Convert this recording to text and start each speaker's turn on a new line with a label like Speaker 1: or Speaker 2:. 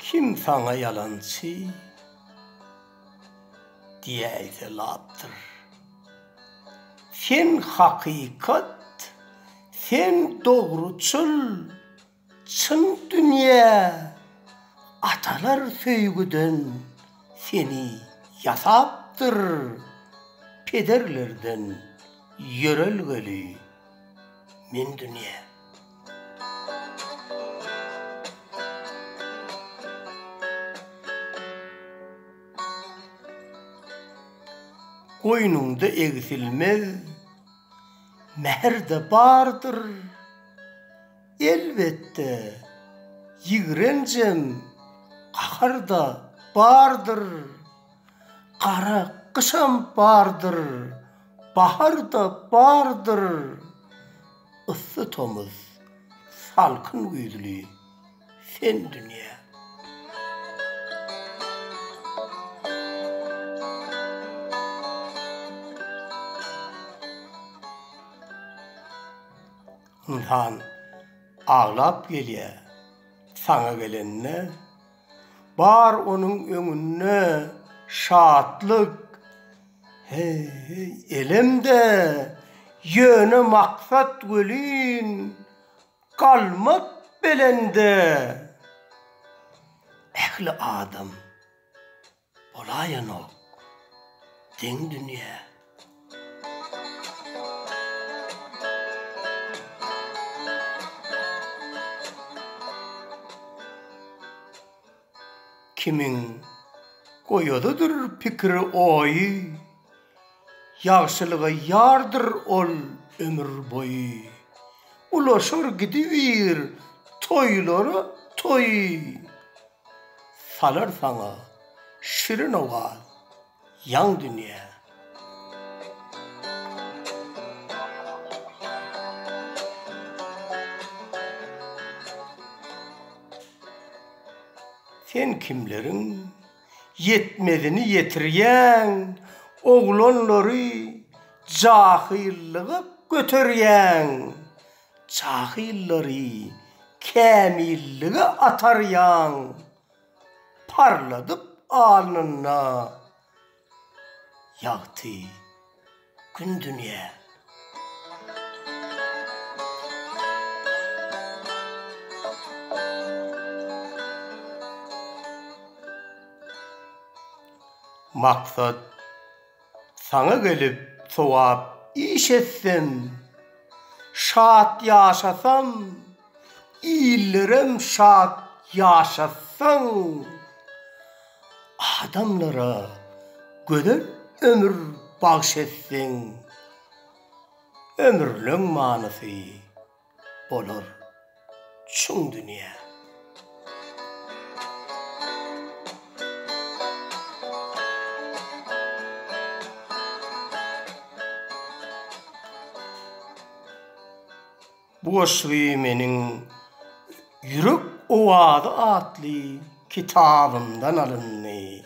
Speaker 1: Kim saňa ýalançy diýäýse lapdyr. Sen hakykat, sen dogruçyl Çyn dünýä atalar söýgüden seni ýasapdyr, pederlerden ýörelgeli men dünýä. Goýnuňda egsilmez mähir-de bardyr. Elbetde, ýigrenjem, gahar-da bardyr. Gara gyşam bardyr, bahar-da bardyr. Yssy tomus, salkyn güýzli, sen dünýä. Ynsan aglap gelýär. Saňa gelende, bar onuň öňünde şatlyk, heý, elem-de, ýöne maksat welin, galmak belende. Ähli adam. Bolaýanok deň dünýä. Kimiň goýazydyr pikiri oýy, Ýagşylyga ýardyr ol ömür boýy. Ulaşar gidibir toýlara toýy. Salar saňa şirin owaz ýaň dünýä. Sen kimleriň ýetmezini ýetirýäň, Oglanlary jahyllyga göterýäň. Jahyllary kämillige atarýaň, parladyp alnynda ýagty Gün dünýä. Maksat Saňa gelip sogap iş etsem, şat ýaşasam, illerem şat ýaşatsaň, adamlara gözel ömür bagş etseň, ömrüleň manysy. bolar çuň dünýä. Bu goşgy meniň Ýürek owazy atly kitabymdan alyndy.